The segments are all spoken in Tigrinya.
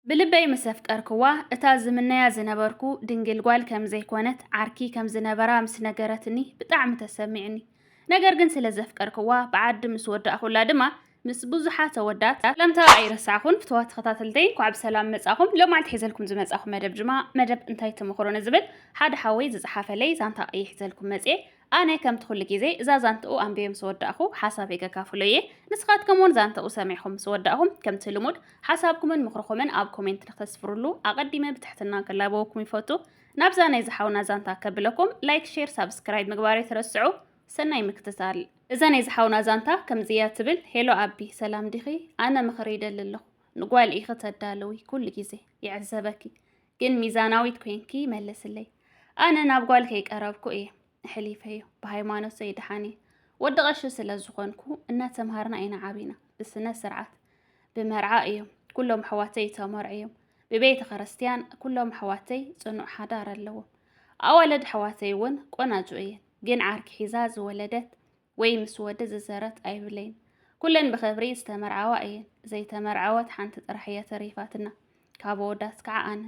ብልበይ ምስ ኣፍቀርክዋ፣ እታ ዝምነያ ዝነበርኩ ድንግል ጓል ከም ዘይኮነት፣ ዓርኪ ከም ዝነበራ ምስ ነገረትኒ ብጣዕሚ ተሰሚዑኒ። ነገር ግን ስለ ዘፍቀርክዋ፣ ብዓዲ ምስ ወዳእኩላ ድማ ምስ ብዙሓት ኣወዳት። ሰላምታ ኣይረሳዕኩን ፍትዋት ተኸታተልተይ እንኳዕ ብሰላም መጻእኹም ሎማዓልቲ ሒዘልኩም ዝመጻኹ መደብ ድማ መደብ እንታይ ትምኹሩኒ ዝብል ሓደ ሓወይ ዝጸሓፈለይ ዛንታ እየ ሒዘልኩም መጽየ ኣነ ከምቲ ኩሉ ግዜ እዛ ዛንትኡ ኣንቢበ ምስ ወዳእኩ ሓሳበይ ከካፍሎ እየ። ንስኻትኩም ውን ዛንታኡ ሰሚዕኹም ምስ ወዳእኹም ከምቲ ልሙድ ሓሳብኩምን ምኽርኹምን ኣብ ኮሜንት ንክተስፍሩሉ ኣቐዲመ ብትሕትና ክላበወኩም ይፈቱ። ናብዛ ናይ ዝሓውና ዛንታ ከብለኩም ላይክ ሼር ሳብስክራይብ ምግባር ኣይትረስዑ። ሰናይ ምክትታል። እዛ ናይ ዝሓውና ዛንታ ከምዚ እያ ትብል፣ ሄሎ ኣቢ ሰላም ዲኺ ኣነ ምኽሪ ይደሊ ኣለኹ ንጓል ኢኺ ተዳልዊ ኩሉ ግዜ ይዕዘበኪ ግን ሚዛናዊት ኮይንኪ መልስለይ ኣነ ናብ ጓል ከይቀረብኩ እየ እሕሊፈዮ ብሃይማኖት ዘይድሓን እየ ወዲ ቀሺ ስለ ዝኾንኩ እናተምሃርና ኢና ዓቢና ብስነ ስርዓት ብመርዓ እዮም ኩሎም ኣሕዋተይ ተመርዕዮም ብቤተ ክርስትያን ኩሎም ኣሕዋተይ ጽኑዕ ሓዳር ኣለዎም ኣዋልድ ኣሕዋተይ እውን ቆናጁ እየን ግን ዓርኪ ሒዛ ዝወለደት ወይ ምስ ወዲ ዝዘረት ኣይብለይን ኩለን ብኸብሪ ዝተመርዓዋ እየን ዘይተመርዓወት ሓንቲ ጥራሕ እያ ተሪፋትና ካብ ኣወዳት ከዓ ኣነ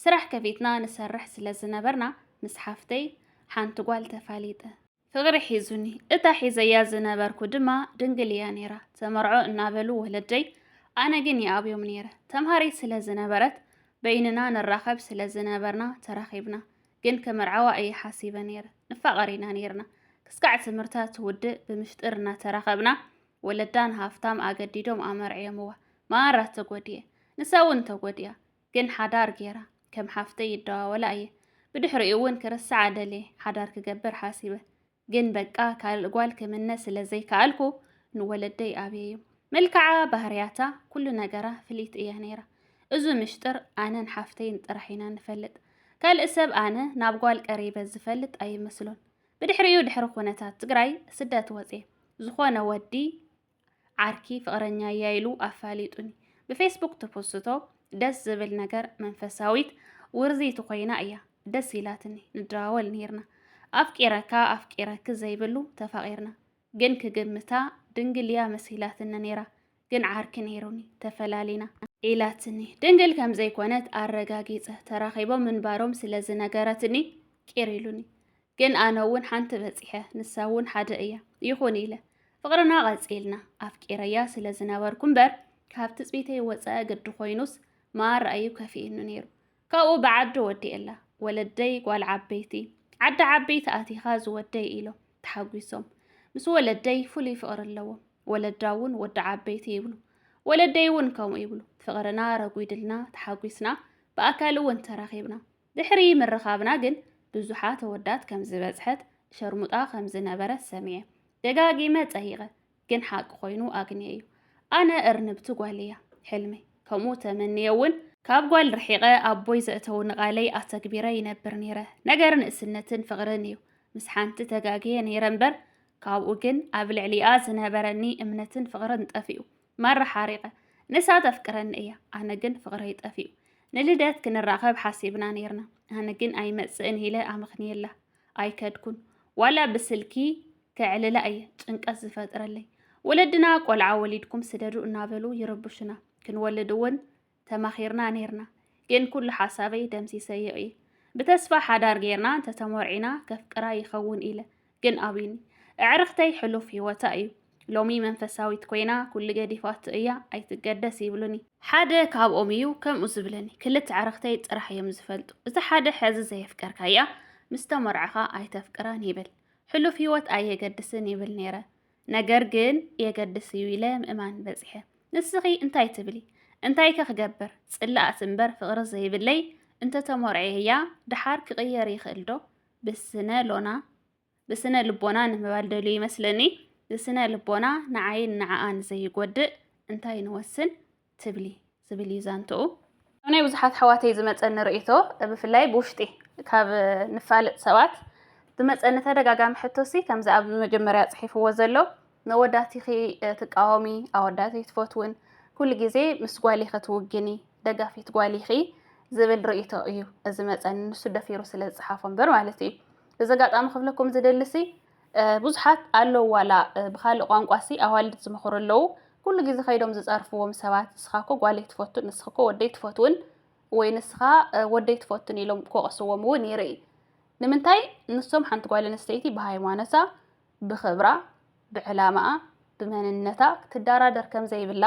ስራሕ ከፊትና ንሰርሕ ስለ ዝነበርና ምስ ሓፍተይ ሓንቲ ጓል ተፋሊጠ ፍቕሪ ሒዙኒ እታ ሒዘያ ዝነበርኩ ድማ ድንግል እያ ነይራ ተመርዖ እናበሉ ወለደይ ኣነ ግን ይኣብዮም ነይረ ተምሃሪት ስለ ዝነበረት በይንና ንራኸብ ስለ ዝነበርና ተራኺብና ግን ከመርዓዋ እየ ሓሲበ ነይረ። ንፋቐር ኢና ነይርና። ክስካዕ ትምህርታ ትውድእ ብምሽጥር እናተራኸብና ወለዳ ንሃፍታም ኣገዲዶም ኣመርዕዮምዋ። መኣራ ተጎዲኤ። ንሳ እውን ተጎዲኣ። ግን ሓዳር ገይራ። ከም ሓፍተይ ይደዋወላ እየ። ብድሕሪኡ እውን ክርስዓ ደልየ። ሓዳር ክገብር ሓሲበ። ግን በቃ ካልእ ጓል ክምነ ስለ ዘይከኣልኩ ንወለደይ ኣብየዮም። መልክዓ፣ ባህርያታ፣ ኩሉ ነገራ ፍልይቲ እያ ነይራ። እዙ ምሽጥር ኣነን ሓፍተይን ጥራሕ ኢና ንፈልጥ። ካልእ ሰብ ኣነ ናብ ጓል ቀሪበ ዝፈልጥ ኣይመስሎን። ብድሕሪኡ ድሕሪ ኩነታት ትግራይ ስደት ወፅየ። ዝኾነ ወዲ ዓርኪ ፍቕረኛያ ኢሉ ኣፋሊጡኒ ብፌስቡክ ትፕስቶ ደስ ዝብል ነገር መንፈሳዊት ውርዝይቲ ኮይና እያ ደስ ኢላትኒ ንደዋወል ነይርና ኣፍቂረካ ኣፍቂረኪ ዘይብሉ ተፋቒርና ግን ክግምታ ድንግል እያ መሲላትኒ ነይራ ግን ዓርኪ ነይሩኒ ተፈላሊና ኢላትኒ ድንግል ከም ዘይኮነት ኣረጋጊጸ ተራኺቦም ምንባሮም ስለ ዝነገረትኒ ቂር ኢሉኒ ግን ኣነ እውን ሓንቲ በጺሐ፣ ንሳ እውን ሓደ እያ። ይኹን ኢለ ፍቕርና ቐጺልና። ኣፍቂረያ ስለ ዝነበርኩ እምበር ካብ ትጽቢተይ ወጻኢ ግዲ ኮይኑስ መኣር ራእዩ ከፊእኒ ነይሩ። ካብኡ ብዓዲ ወዲኤላ። ወለደይ ጓል ዓበይቲ ዓዲ ዓበይቲ ኣቲኻ ዝወደይ ኢሎም ተሓጒሶም። ምስ ወለደይ ፍሉይ ፍቕሪ ኣለዎም። ወለዳ እውን ወዲ ዓበይቲ ይብሉ። ወለደይ እውን ከምኡ ይብሉ። ፍቕርና ረጒድልና ተሓጒስና ብኣካል እውን ተራኺብና። ድሕሪ ምርኻብና ግን ብዙሓት ኣወዳት ከም ዝበጽሐት ሸርሙጣ ከም ዝነበረት ሰሚዐ ደጋጊመ ጠይቐ ግን ሓቂ ኮይኑ ኣግንየዮ ኣነ እርንብቲ ጓል እያ ሕልመይ ከምኡ ተመንየ ውን ካብ ጓል ርሒቐ ኣቦይ ዘእተውኒ ቃለይ ኣተግቢረ ይነብር ነይረ ነገር ንእስነትን ፍቕርን እዩ ምስ ሓንቲ ተጋግየ ነይረ እምበር ካብኡ ግን ኣብ ልዕሊኣ ዝነበረኒ እምነትን ፍቕርን ጠፊኡ ማራ ሓሪቀ ንሳ ተፍቅረኒ እያ ኣነ ግን ፍቅረይ ጠፊኡ ንልደት ክንራኸብ ሓሲብና ነይርና ኣነ ግን ኣይመጽእን ኢለ ኣመኽንየላ ኣይከድኩን ዋላ ብስልኪ ከዕልላ እየ ጭንቀት ዝፈጥረለይ ወለድና ቆልዓ ወሊድኩም ስደዱ እናበሉ ይረብሹና ክንወልድ እውን ተማኺርና ኔርና ግን ኩሉ ሓሳበይ ደምሲሰዮ እየ። ብተስፋ ሓዳር ጌርና እንተተሞርዒና ከፍቅራ ይኸውን ኢለ ግን ኣብዩኒ። ኣዕርኽተይ ሕሉፍ ሂወታ እዩ። ሎሚ መንፈሳዊት ኮይና ኩሉ ገዲፋቶ እያ ኣይትገደስ ይብሉኒ። ሓደ ካብኦም እዩ ከምኡ ዝብለኒ። ክልተ ኣዕርኽተይ ጥራሕ እዮም ዝፈልጡ። እቲ ሓደ ሕዚ ዘየፍቀርካያ ምስ ተሞርዕኻ ኣይተፍቅራን ይብል። ሕሉፍ ሂወት ኣየገድስን ይብል ኔረ። ነገር ግን የገድስ እዩ ኢለ ምእማን በጺሐ። ንስኺ እንታይ ትብሊ? እንታይከ ክገብር? ጽላእት እምበር ፍቕሪ ዘይብለይ እንተተሞርዐየያ ድሓር ክቕየር ይኽእል ዶ? ብስነ ሎና ብስነ ልቦና ንምባል ደልዩ ይመስለኒ። ብስነ ልቦና ንዓይን ንዓኣን ዘይጎድእ እንታይ ንወስን? ትብሊ ዝብል እዩ ዛንትኡ። ካብ ናይ ብዙሓት ኣሕዋተይ ዝመጸኒ ርእይቶ ብፍላይ ብውሽጢ ካብ ንፋልጥ ሰባት ዝመጸኒ ተደጋጋሚ ሕቶሲ ከምዚ ኣብ መጀመርያ ጽሒፍዎ ዘሎ ነወዳት ኢኺ ትቃወሚ ኣወዳት ኣይትፈትውን ኩሉ ግዜ ምስ ጓል ኢኺ ትውግኒ ደጋፊት ጓል ኢኺ ዝብል ርእይቶ እዩ ዝመጸኒ ንሱ ደፊሩ ስለ ዝጸሓፎ እምበር ማለት እዩ። እዚ ኣጋጣሚ ክብለኩም ዝደልሲ ብዙሓት ኣለው ዋላ ብኻልእ ቋንቋሲ ኣዋልድ ዝመኽሩ ኣለው ኩሉ ግዜ ከይዶም ዝጸርፍዎም ሰባት ንስኻ እኮ ጓለይ ትፈቱ ንስኺ እኮ ወደይ ትፈትውን ወይ ንስኻ ወደይ ትፈቱን ኢሎም ክወቕስዎም እውን ይርኢ ንምንታይ ንሶም ሓንቲ ጓል ኣንስተይቲ ብሃይማኖታ ብኽብራ ብዕላማኣ ብመንነታ ክትደራደር ከም ዘይብላ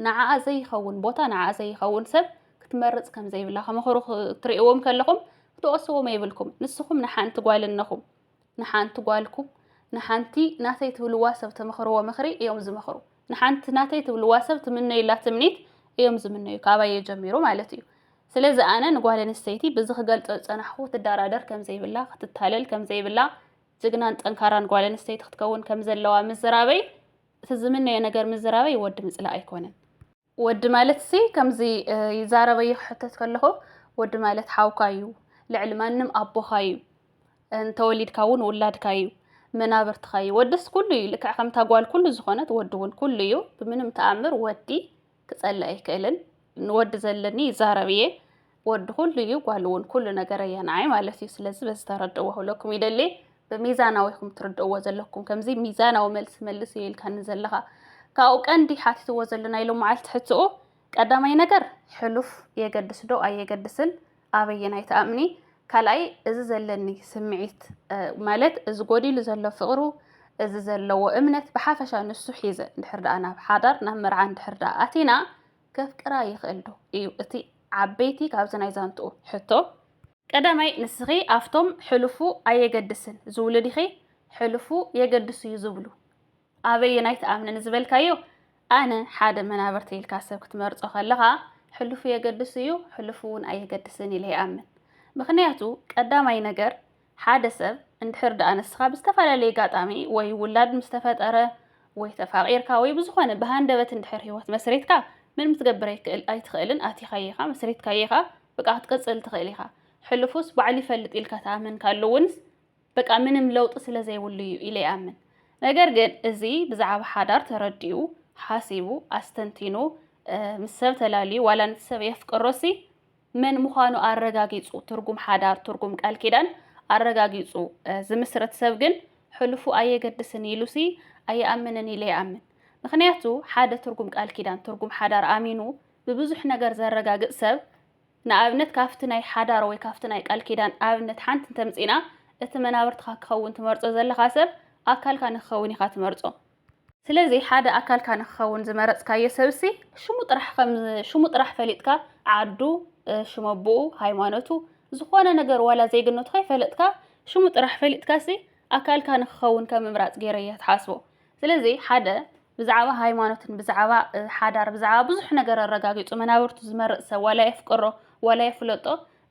ንዓኣ ዘይኸውን ቦታ ንዓኣ ዘይኸውን ሰብ ክትመርጽ ከም ዘይብላ ከመኽሩ ክትርእዎም ከለኹም ክትወቕስዎም የብልኩም ንስኹም ንሓንቲ ጓል እነኹም ንሓንቲ ጓልኩም ንሓንቲ ናተይ ትብልዋ ሰብ ትመኽርዎ ምኽሪ እዮም ዝመኽሩ። ንሓንቲ ናተይ ትብልዋ ሰብ ትምነዩላ ትምኒት እዮም ዝምነዩ ካባየ ጀሚሩ ማለት እዩ። ስለዚ ኣነ ንጓል ኣንስተይቲ ብዚ ክገልጾ ዝጸናሕኩ ክትደራደር ከም ዘይብላ፣ ክትታለል ከም ዘይብላ፣ ጅግናን ጠንካራን ጓል ኣንስተይቲ ክትከውን ከም ዘለዋ ምዝራበይ እቲ ዝምነዮ ነገር ምዝራበይ ወዲ ምጽላእ ኣይኮነን። ወዲ ማለትሲ ከምዚ ይዛረበዮ ክሕተት ከለኹ ወዲ ማለት ሓውካ እዩ ልዕሊ ማንም ኣቦኻ እዩ እንተወሊድካ እውን ውላድካ እዩ መናብርትኻ እዩ ወድስ ኩሉ እዩ ልክዕ ከምታ ጓል ኩሉ ዝኾነት ወዲ እውን ኩሉ እዩ ብምንም ተኣምር ወዲ ክጸልእ ኣይክእልን ንወዲ ዘለኒ ይዛረብ እየ ወዲ ኩሉ እዩ ጓል እውን ኩሉ ነገር እያ ንዓይ ማለት እዩ። ስለዚ በዚ ተረድእዎ ክብለኩም ይደሊ ብሚዛናዊ ኢኹም ትርድእዎ ዘለኩም ከምዚ ሚዛናዊ መልሲ መልስ እዩ ኢልካኒ ዘለኻ ካብኡ ቀንዲ ሓቲትዎ ዘሎ ናይ ሎመዓልቲ ሕትኡ ቀዳማይ ነገር ሕሉፍ የገድስ ዶ ኣየገድስን ኣበየናይ ትኣምኒ ካልኣይ እዚ ዘለኒ ስምዒት ማለት እዚ ጎዲሉ ዘሎ ፍቕሩ እዚ ዘለዎ እምነት ብሓፈሻ ንሱ ሒዘ እንድሕር ደኣ ናብ ሓዳር ናብ መርዓ እንድሕር ደኣ ኣቲና ከፍቅራ ይኽእልዶ እዩ እቲ ዓበይቲ ካብዚ ናይ ዛንትኡ ሕቶ? ቀዳማይ ንስኺ ኣፍቶም ሕሉፉ ኣየገድስን ዝብሉ ዲኺ ሕሉፉ የገድስ እዩ ዝብሉ ኣበየናይ ትኣምኒ ንዝበልካዮ ኣነ ሓደ መናብርቲ ኢልካ ሰብ ክትመርጾ ከለኻ ሕሉፉ የገድስ እዩ ሕሉፉ ውን ኣየገድስን ኢለ ይኣምን ምኽንያቱ ቀዳማይ ነገር ሓደ ሰብ እንድሕር ድኣ ንስኻ ብዝተፈላለየ ኣጋጣሚ ወይ ውላድ ምስ ተፈጠረ ወይ ተፋቒርካ ወይ ብዝኾነ ብሃንደበት እንድሕር ህይወት መስሪትካ ምንም ክትገብር ኣይክእል ኣይትኽእልን ኣቲኻዮ ኢኻ መስሪትካዮ ኢኻ በቃ ክትቅጽል ትኽእል ኢኻ ሕሉፉስ ባዕሉ ይፈልጥ ኢልካ ትኣምን ካሉ ውንስ በቃ ምንም ለውጢ ስለ ዘይብሉ እዩ ኢለ ይኣምን ነገር ግን እዚ ብዛዕባ ሓዳር ተረዲኡ ሓሲቡ ኣስተንቲኑ ምስ ሰብ ተላልዩ ዋላ ነቲ ሰብ የፍቅሮሲ መን ምዃኑ ኣረጋጊጹ ትርጉም ሓዳር ትርጉም ቃል ኪዳን ኣረጋጊጹ ዝምስረት ሰብ ግን ሕሉፉ ኣየገድስን ኢሉሲ ኣይኣምንን ኢለ ይኣምን ምኽንያቱ ሓደ ትርጉም ቃል ኪዳን ትርጉም ሓዳር ኣሚኑ ብብዙሕ ነገር ዘረጋግጽ ሰብ ንኣብነት ካብቲ ናይ ሓዳር ወይ ካብቲ ናይ ቃል ኪዳን ኣብነት ሓንቲ እንተምጺና እቲ መናብርትኻ ክኸውን ትመርጾ ዘለኻ ሰብ ኣካልካ ንክኸውን ኢኻ ትመርጾ ስለዚ ሓደ ኣካልካ ንክኸውን ዝመረጽካዮ ሰብሲ ሽሙ ጥራሕ ከም ሽሙ ጥራሕ ፈሊጥካ ዓዱ፣ ሽም ኣቡኡ፣ ሃይማኖቱ፣ ዝኾነ ነገር ዋላ ዜግነቱ ከይፈለጥካ ሽሙ ጥራሕ ፈሊጥካሲ ኣካልካ ንክኸውን ከም ምምራጽ ገይረ እየ ትሓስቦ። ስለዚ ሓደ ብዛዕባ ሃይማኖትን ብዛዕባ ሓዳር ብዛዕባ ብዙሕ ነገር ኣረጋጊጹ መናብርቱ ዝመርጽ ሰብ ዋላ የፍቅሮ ዋላ የፍለጦ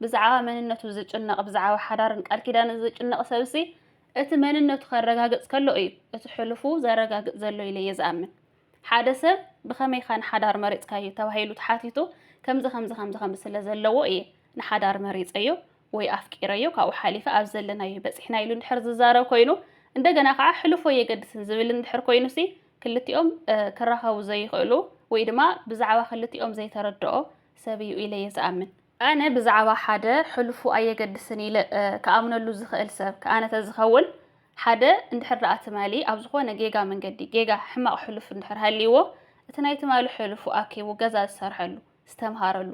ብዛዕባ መንነቱ ዝጭነቕ ብዛዕባ ሓዳርን ቃል ኪዳንን ዝጭነቕ ሰብሲ እቲ መንነቱ ከረጋግጽ ከሎ እዩ እቲ ሕሉፉ ዘረጋግጽ ዘሎ ኢለ እየ ዝኣምን። ሓደ ሰብ ብኸመይ ኢኻ ንሓዳር መሪጽካዮ ተባሂሉ ተሓቲቱ ከምዚ ከምዚ ከምዚ ከምዚ ስለ ዘለዎ እየ ንሓዳር መሪጸዮ ወይ ኣፍቂረዮ ካብኡ ሓሊፈ ኣብዚ ዘለናዮ በጺሕና ኢሉ እንድሕር ዝዛረብ ኮይኑ እንደገና ከዓ ሕሉፎ የገድስን ዝብል እንድሕር ኮይኑሲ ክልቲኦም ክራኸቡ ዘይኽእሉ ወይ ድማ ብዛዕባ ክልቲኦም ዘይተረድኦ ሰብ እዩ ኢለ እየ ዝኣምን። ኣነ ብዛዕባ ሓደ ሕሉፉ ኣየገድስን ኢለ ክኣምነሉ ዝኽእል ሰብ ክኣ ነተዝኸውን ሓደ እንድሕር ደኣ ትማሊ ኣብ ዝኾነ ጌጋ መንገዲ ጌጋ ሕማቕ ሕሉፍ እንድሕር ሃልይዎ እቲ ናይ ትማሊ ሕሉፉ ኣኪቡ ገዛ ዝሰርሐሉ ዝተምሃረሉ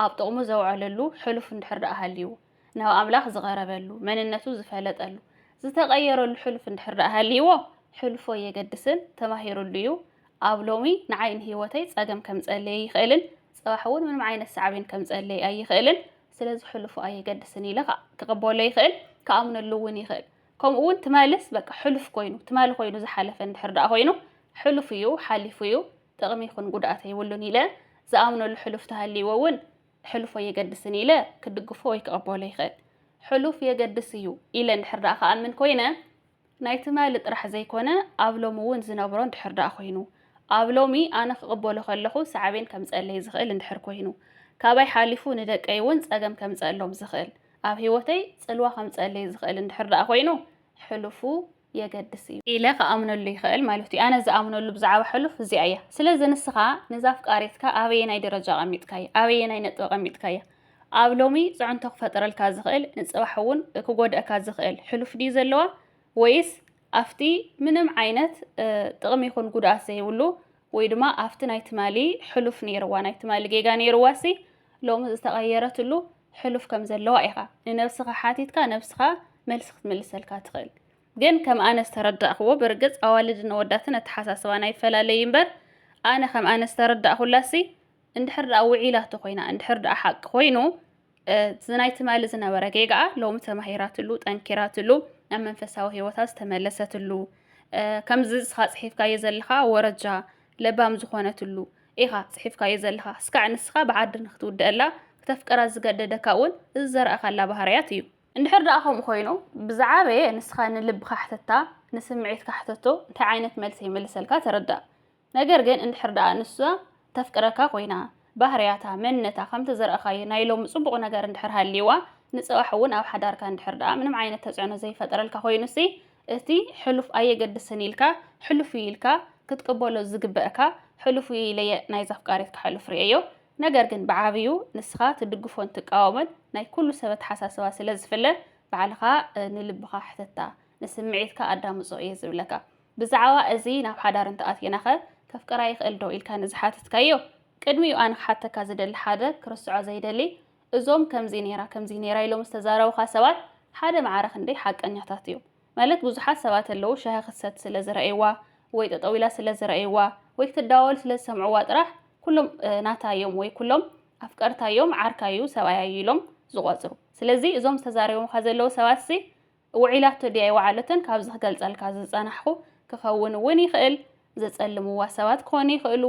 ኣብ ጥቕሙ ዘውዐለሉ ሕሉፍ እንድሕር ደኣ ሃልይዎ ናብ ኣምላኽ ዝቐረበሉ መንነቱ ዝፈለጠሉ ዝተቐየረሉ ሕሉፍ እንድሕር ደኣ ሃልይዎ ሕሉፉ ኣየገድስን ተማሂሩሉ እዩ ኣብ ሎሚ ንዓይ ንህይወተይ ጸገም ከምጸለየ ይኽእልን ጽባሕ እውን ምንም ዓይነት ሳዕቤን ከምጸለይ ኣይኽእልን፣ ስለዚ ሕሉፉ ኣየገድስን ኢለ ክቕበሎ ይኽእል፣ ክኣምነሉ እውን ይኽእል። ከምኡ እውን ትማልስ በቃ ሕሉፍ ኮይኑ፣ ትማሊ ኮይኑ ዝሓለፈ እንድሕር ደኣ ኮይኑ፣ ሕሉፍ እዩ፣ ሓሊፉ እዩ፣ ጥቕሚ ይኹን ጉድኣት የብሉን ኢለ ዝኣምነሉ ሕሉፍ ተሃልይዎ እውን ሕሉፉ ኣየገድስን ኢለ ክድግፎ ወይ ክቕበሎ ይኽእል። ሕሉፍ የገድስ እዩ ኢለ እንድሕር ደኣ ክኣምን ኮይነ፣ ናይ ትማሊ ጥራሕ ዘይኮነ ኣብ ሎሚ እውን ዝነብሮ እንድሕር ደኣ ኮይኑ፣ ኣብ ሎሚ ኣነ ክቕበሎ ከለኹ ሳዕቤን ከምጸለይ ዝኽእል እንድሕር ኮይኑ፣ ካባይ ሓሊፉ ንደቀይ እውን ጸገም ከምጸሎም ዝኽእል፣ ኣብ ህይወተይ ጽልዋ ከምጸለይ ዝኽእል እንድሕር ደኣ ኮይኑ፣ ሕሉፉ የገድስ እዩ። ኢለ ክኣምነሉ ይኽእል ማለት እዩ። ኣነ ዝኣምነሉ ብዛዕባ ሕሉፍ እዚኣ እያ። ስለዚ ንስኻ ንዛ ኣፍቃሪትካ ኣበየናይ ደረጃ ኣቐሚጥካያ? ኣበየናይ ነጥቢ ኣቐሚጥካያ? ኣብ ሎሚ ጽዕንቶ ክፈጥረልካ ዝኽእል ንጽባሕ እውን ክጎድኣካ ዝኽእል ሕሉፍ ድዩ ዘለዋ ወይስ ኣብቲ ምንም ዓይነት ጥቕሚ ይኹን ጉድኣት ዘይብሉ ወይ ድማ ኣብቲ ናይ ትማሊ ሕሉፍ ነይርዋ ናይ ትማሊ ጌጋ ነይርዋሲ ሎሚ ዝተቐየረትሉ ሕሉፍ ከም ዘለዋ ኢኻ ንነብስኻ ሓቲትካ ነብስኻ መልሲ ክትምልሰልካ ትኽእል ግን ከም ኣነ ዝተረዳእኽዎ ብርግጽ ኣዋልድን ኣወዳትን ኣተሓሳስባና ይፈላለ እዩ እምበር ኣነ ከም ኣነ ዝተረዳእኹላሲ እንድሕር ደኣ ውዒላቶ ኮይና እንድሕር ደኣ ሓቂ ኮይኑ እዚ ናይ ትማሊ ዝነበረ ጌጋኣ ሎሚ ተማሂራትሉ ጠንኪራትሉ ናብ መንፈሳዊ ህይወታ ዝተመለሰትሉ ከምዚ ንስኻ ጽሒፍካዮ ዘለኻ ወረጃ ለባም ዝኾነትሉ ኢኻ ጽሒፍካዮ ዘለኻ እስካዕ ንስኻ ብዓዲ ንክትውድአላ ክተፍቅራ ዝገደደካ እውን እዚ ዘረኣኻላ ባህርያት እዩ እንድሕር ደኣ ከምኡ ኮይኑ ብዝዓበየ ንስኻ ንልብኻ ሕተታ ንስምዒትካ ሕተቶ እንታይ ዓይነት መልሲ ይምልሰልካ ተረዳእ ነገር ግን እንድሕር ደኣ ንሳ ተፍቅረካ ኮይና፣ ባህርያታ፣ መንነታ፣ ከምቲ ዝረኣኻዮ ናይ ሎሚ ጽቡቕ ነገር እንድሕር ሃልይዋ፣ ንጽባሕ እውን ኣብ ሓዳርካ እንድሕር ደኣ ምንም ዓይነት ተጽዕኖ ዘይፈጥረልካ ኮይኑሲ፣ እቲ ሕሉፍ ኣየገድስን ኢልካ ሕሉፍ'ዩ ኢልካ ክትቅበሎ ዝግበእካ ሕሉፍ'ዩ ኢለ'የ ናይዛ ኣፍቃሪትካ ሕሉፍ ርእየዮ። ነገር ግን ብዓብዩ ንስኻ ትድግፎን ትቃወሞን ናይ ኩሉ ሰብ ኣተሓሳስባ ስለ ዝፍለ ባዕልኻ ንልብኻ ሕተታ፣ ንስምዒትካ ኣዳምጾ እየ ዝብለካ። ብዛዕባ እዚ ናብ ሓዳር እንተ ኣትይናኸ ከፍቅራ ይኽእልዶ ኢልካ ንዝሓተትካዮ፣ ቅድሚኡ ኣነ ክሓተካ ዝደሊ ሓደ ክርስዖ ዘይደሊ፣ እዞም ከምዚ ኔራ ከምዚ ኔራ ኢሎም ዝተዛረቡኻ ሰባት ሓደ ማዕረ ክንደይ ሓቀኛታት እዮም። ማለት ብዙሓት ሰባት ኣለዉ ሻሂ ክትሰቲ ስለ ዝረኣይዋ ወይ ጠጠው ኢላ ስለ ዝረኣይዋ ወይ ክትደዋወል ስለ ዝሰምዕዋ ጥራሕ ኩሎም ናታ እዮም ወይ ኩሎም ኣፍቀርታ እዮም ዓርካ እዩ ሰብኣያ እዩ ኢሎም ዝቖጽሩ። ስለዚ እዞም ዝተዛሪቦምኻ ዘለዉ ሰባትሲ ውዒላቶ ድዩ ኣይወዓለቶን ካብዚ ክገልጸልካ ዝጸናሕኩ ክኸውን እውን ይኽእል፣ ዘጸልምዋ ሰባት ክኾኑ ይኽእሉ፣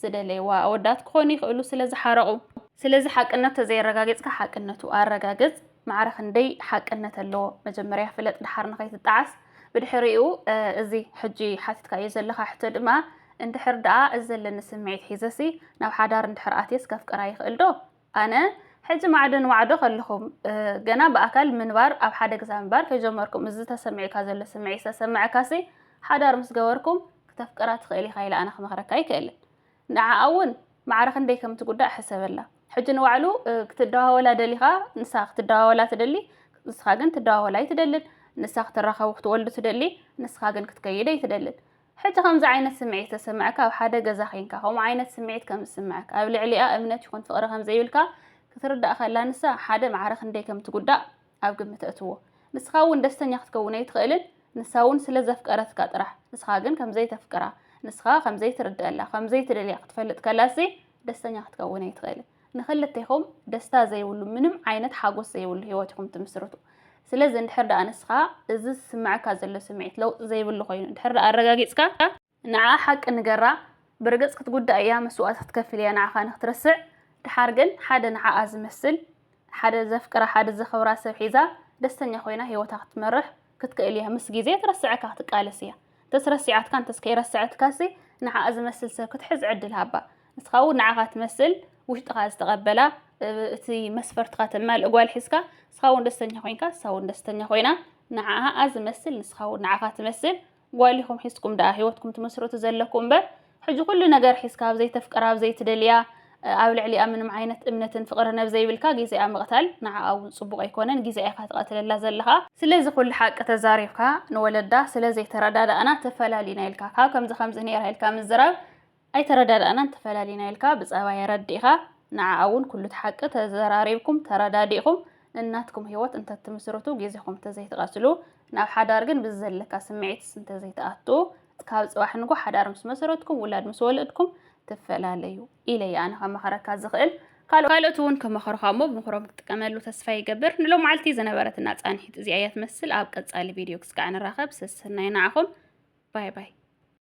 ዝደለይዋ ኣወዳት ክኾኑ ይኽእሉ ስለ ዝሓረቑ። ስለዚ ሓቅነቱ ተዘየረጋጊጽካ ሓቅነቱ ኣረጋግጽ፣ ማዕረ ክንደይ ሓቅነት ኣለዎ መጀመርያ ፍለጥ ድሓር ንኸይትጠዓስ፣ ብድሕሪኡ እዚ ሕጂ ሓቲትካዮ ዘለኻ ሕቶ ድማ እንድሕር ድኣ እዚ ዘለኒ ስምዒት ሒዘሲ ናብ ሓዳር እንድሕር ኣትየስ ከፍቅራ ይኽእል ዶ? ኣነ ሕጂ ማዕዶ ንማዕዶ ከለኹም ገና ብኣካል ምንባር ኣብ ሓደ ገዛ ምንባር ከይጀመርኩም እዚ ተሰሚዒካ ዘሎ ስምዒት ዝተሰመዐካሲ ሓዳር ምስ ገበርኩም ክተፍቅራ ትኽእል ኢኻ ኢለ ኣነ ክመኽረካ ኣይክእልን ንዓኣ እውን ማዕረ ክንደይ ከም ትጉዳእ ሕሰበላ ሕጂ ንባዕሉ ክትደዋወላ ደሊኻ ንሳ ክትደዋወላ ትደሊ ንስኻ ግን ትደዋወላ ኣይትደልን ንሳ ክትራኸቡ ክትወልዱ ትደሊ ንስኻ ግን ክትከይድ ኣይትደልን ሕጂ ከምዚ ዓይነት ስምዒት ተሰመዐካ ኣብ ሓደ ገዛ ኬንካ ከምኡ ዓይነት ስምዒት ከም ዝስመዐካ ኣብ ልዕሊኣ እምነት ይኹን ፍቅሪ ከም ዘይብልካ ክትርዳእ ከላ ንሳ ሓደ ማዕረ ክንደይ ከም ትጉዳእ ኣብ ግምት ኣእትዎ ንስኻ ውን ደስተኛ ክትከውን ኣይትኽእልን ንሳ ውን ስለ ዘፍቀረትካ ጥራሕ ንስኻ ግን ከም ዘይተፍቅራ ንስኻ ከም ዘይትርደኣላ ከም ዘይትደልያ ክትፈልጥ ከላሲ ደስተኛ ክትከውን ኣይትኽእልን ንክልቴኹም ደስታ ዘይብሉ ምንም ዓይነት ሓጎስ ዘይብሉ ሂወት ኢኹም ትምስርቱ። ስለዚ እንድሕር ደኣ ንስኻ እዚ ዝስመዐካ ዘሎ ስምዒት ለውጢ ዘይብሉ ኮይኑ እንድሕር ደኣ ኣረጋጊጽካ፣ ንዓኣ ሓቂ ንገራ ብርግጽ ክትጉዳእ ኢያ መስዋእቲ ክትከፍል ኢያ ንዓኻ ንክትርስዕ ደሓር ግን ሓደ ንዓኣ ዝመስል ሓደ ዘፍቅራ ሓደ ዘኽብራ ሰብ ሒዛ ደስተኛ ኮይና ሂወታ ክትመርሕ ክትክእል ኢያ ምስ ግዜ ትረስዐካ ክትቃለስ ኢያ እንተስ ረሲዓትካ እንተስ ከይረሰዐትካሲ ንዓኣ ዝመስል ሰብ ክትሕዝ ዕድል ሃባ ንስኻ እውን ንዓኻ ትመስል ውሽጥኻ ዝተቐበላ እቲ መስፈርትኻ ተማልእ ጓል ሒዝካ ንስኻ እውን ደስተኛ ኮይንካ ንሳ እውን ደስተኛ ኮይና ንዓኣ ዝመስል ንስኻ እውን ንዓኻ ትመስል ጓል ኢኹም ሒዝኩም ደኣ ሂወትኩም ትምስርቱ ዘለኩ እምበር ሕጂ ኩሉ ነገር ሒዝካ ኣብ ዘይተፍቅራ ኣብ ዘይትደልያ ኣብ ልዕሊኣ ምንም ዓይነት እምነትን ፍቕርን ኣብ ዘይብልካ ግዜኣ ምቕታል ንዓኣ እውን ጽቡቕ ኣይኮነን ግዜኣ ኢኻ ትቐትለላ ዘለኻ ስለዚ ኩሉ ሓቂ ተዛሪብካ ንወለዳ ስለ ዘይተረዳዳእና ተፈላሊና ኢልካ ካብ ከምዚ ከምዚ ነይራ ኢልካ ምዝራብ ኣይተረዳዳእናን ተፈላሊና ኢልካ ብጸባይ ኣረዲእኻ ንዓኣ ውን ኩሉ እቲ ሓቂ ተዘራሪብኩም ተረዳዲእኹም ንናትኩም ሂወት እንተትምስርቱ ግዜኹም እንተዘይትቀትሉ ናብ ሓዳር ግን ብዘለካ ስምዒትስ እንተዘይትኣቱ ካብ ጽባሕ ንግሆ ሓዳር ምስ መሰረትኩም ውላድ ምስ ወለድኩም ትፈላለዩ ኢለ እየ ኣነ ከመኸረካ ዝኽእል ካልኦት እውን ከመኸሩኻ እሞ ምኽሮም ክትጥቀመሉ ተስፋ ይገብር ንሎማዓልቲ ዝነበረትና ጻንሒት እዚኣ እያ ትመስል ኣብ ቀጻሊ ቪድዮ ክስካዕ ንራኸብ ሰሰናዩ ንዓኹም ባይ ባይ